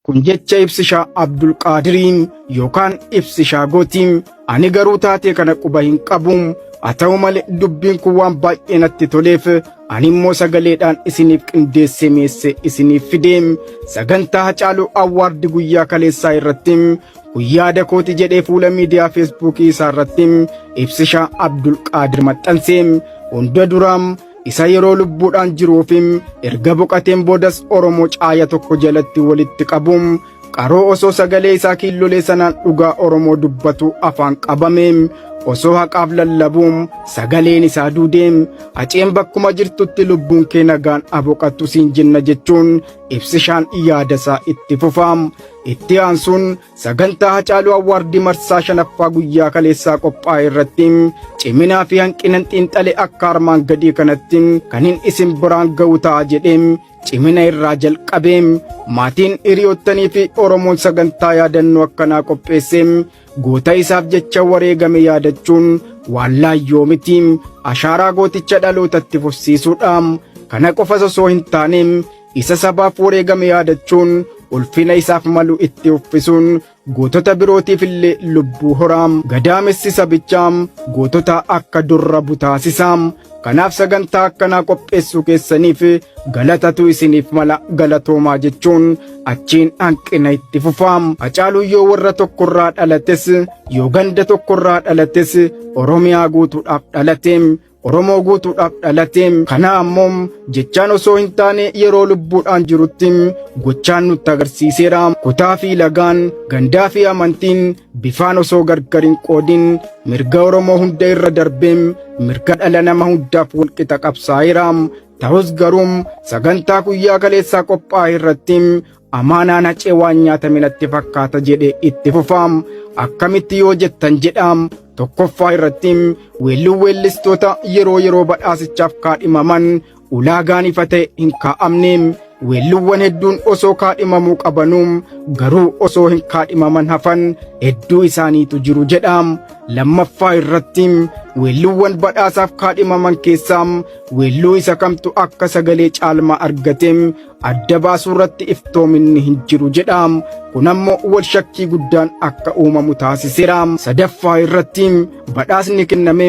Kun jecha ibsishaa Abdulqaadiriin yookaan ibsishaa gootiin ani garuu taatee kana quba hin qabu haa ta'u malee dubbiin kun waan baay'ee natti toleef ani immoo sagaleedhaan isiniif qindeessee mi'eessee isiniif fide sagantaa hacaaluu awwaardi guyyaa kaleessaa irratti guyyaa dakooti jedhee fuula miidiyaa feesbuukii isaa irratti ibsishaa Abdulqaadir maxxanse hunda duraam isa yeroo lubbuudhaan jiruu fi erga boqateen boodas Oromoo caaya tokko jalatti walitti qabuun qaroo osoo sagalee isaa kiillolee sanaan dhugaa Oromoo dubbatu afaan qabame osoo haqaaf lallabuun sagaleen isaa duudee haceen bakkuma jirtutti lubbuun kee nagaan aboqattu siin jenna jechuun ibsishaan yaada isaa itti fufaam itti aansuun Sagantaa Hacaaluu Awwaardii marsaa shanaffaa guyyaa kaleessaa qophaa'e irratti ciminaa fi hanqinan xiinxale akka armaan gadii kanatti kan hin isin biraan ga'u ta'a jedhee cimina irraa jalqabee maatiin hiriyoottanii fi Oromoon sagantaa yaadannoo akkanaa qopheessee goota isaaf jecha wareegame yaadachuun waan laayyoo miti ashaaraa gooticha dhalootatti fufsiisuudha. Kana qofas osoo hin taane Isa sabaaf wareegame yaadachuun ulfina isaaf malu itti uffisuun gootota birootiif illee lubbuu horaam gadaamessi sabichaam gootota akka durra butaasisaam kanaaf sagantaa akkanaa qopheessuu keessaniif galatatu isiniif mala galatoomaa jechuun achiin hanqina itti fufaam hacaaluu yoo warra tokkorraa dhalates yoo ganda tokkorraa dhalates oromiyaa guutuudhaaf dhalateem Oromoo guutuudhaaf dhalatee kana ammoo jechaan osoo hin taane yeroo lubbuudhaan jirutti gochaan nutti agarsiiseera kutaa fi lagaan gandaa fi amantiin bifaan osoo gargar hin qoodin mirga Oromoo hunda irra darbee mirga dhala nama hundaaf walqixa qabsaa'eera. Ta'us garuu sagantaa guyyaa kaleessaa qophaa'e irratti Amaanaan hacee waan nyaatame natti fakkaata jedhe itti fufaam akkamitti yoo jettan jedhaam tokkoffaa irratti weelluun weellistoota yeroo yeroo badhaasichaaf kaadhimaman ulaagaan ifa ta'e hin kaa'amne weelluuwwan hedduun osoo kaadhimamuu qabanuu garuu osoo hin kaadhimaman hafan hedduu isaaniitu jiru jedhaam lammaffaa irratti weelluuwwan badhaasaaf kaadhimaman keessaa weelluu isa kamtu akka sagalee caalmaa argateem adda baasuu irratti iftoominni hin jiru jedha. Kun ammoo wal shakkii guddaan akka uumamu taasiseera. Sadaffaa irratti badhaasni kenname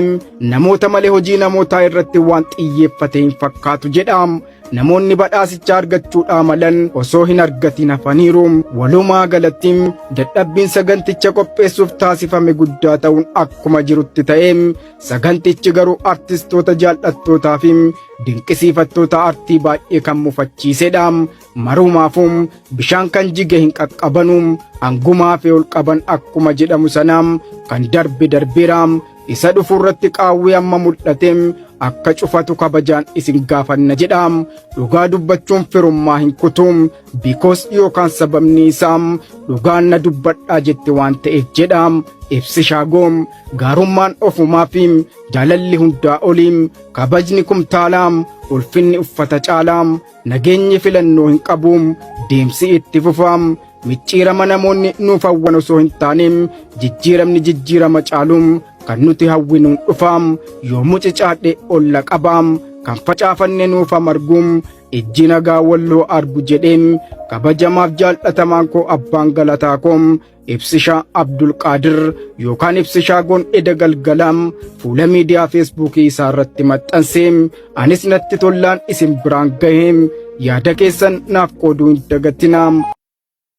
namoota malee hojii namootaa irratti waan xiyyeeffate hin fakkaatu jedha. Namoonni badhaasicha argachuudhaa malan osoo hin argatin hafaniiru. Walumaa galatti dadhabbiin saganticha qopheessuuf taasifame guddaa ta'uun akkuma jirutti ta'e Sagantichi garuu artistoota jaal'attootaa fi dinqisiifattoota artii baay'ee kan mufachiisedha. Marumaafuu bishaan kan jige hin qaqqabanu hangumaa fi ol qaban akkuma jedhamu sana kan darbe darbeera. Isa dhufu irratti qaawwee amma mul'ate akka cufatu kabajaan isin gaafanna jedha. Dhugaa dubbachuun firummaa hin kutu. Because yookaan sababni isaa dhugaan na dubbadhaa jette waan ta'eef jedha. Ibsi shaagoom gaarummaan ofumaa fi jaalalli hundaa oliim kabajni kumtaalaam ulfinni uffata caalaam nageenyi filannoo hin qabuum deemsi itti fufaam micciirama namoonni nuuf hawwan osoo hin taaneem jijjiiramni jijjiirama caaluum kan nuti hawwinuun dhufaam yoo mucicaadhe olla qabaam kan facaafanne nuuf marguum Ijji nagaa walloo argu jedheen kabajamaaf jaal'atamaan koo abbaan galataa koo ibsishaa Abdulqaadir yookaan ibsishaa goon eda galgalaam fuula miidiyaa feesbuukii isaa irratti maxxansee anis natti tollaan isin biraan gahee yaada keessan naaf qooduu hin dagatinaa.